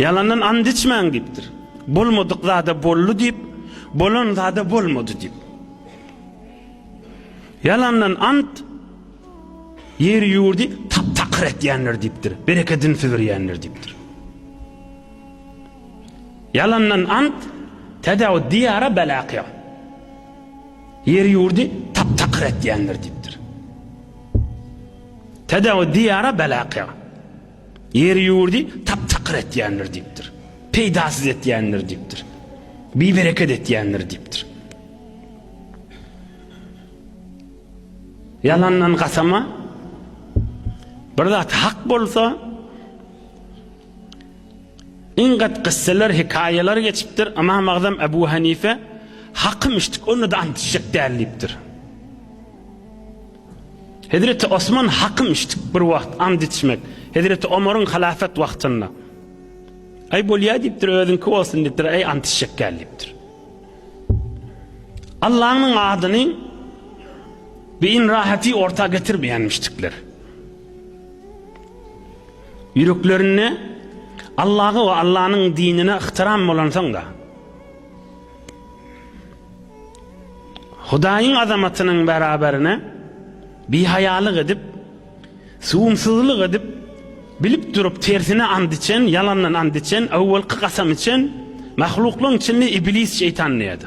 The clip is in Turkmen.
Ýalandan and içmäň diýipdir. Bolmadyk zada boldy diýip, bolan zada bolmady diýip. Ýalandan ant ýeri-ýurdy tap-takyr etýändir diýipdir. Berekedini süzürýändir diýipdir. Ýalandan ant täzew diýara bela akýar. Ýeri-ýurdy tap-takyr etýändir diýipdir. Täzew diýara bela akýar. Ýeri-ýurdy tap-takyr etýändir diýipdir. Peýdasyz etýändir diýipdir. Bibereket etýändir diýipdir. Ýalandan gasama bir zat hak bolsa Ingat gysseler, hikaýalar geçipdir. Imam Agzam Ebu Hanife hakym içdik, onda da ant içjek däl diýipdir. Hezreti Osman hakym içdik bir wagt and içmek. Hezreti Omaryň halafet wagtynda. Aý bolýa diýipdir, özüňki bolsun diýipdir, aý and içjek däl diýipdir. Allah'ın adını ve in rahati orta getirmeyenmiştikler. Yüreklerinde Allah'a ve Allah'ın dinine ihtiram olan sonra Hudaýyň azamatynyň beraberine bihaýalyk edip, süwümsizlik edip, bilip durup tersine and içen, ýalandan and içen, öwelki kasam içen mahluklaryň içinde Iblis şeýtan diýýärdi.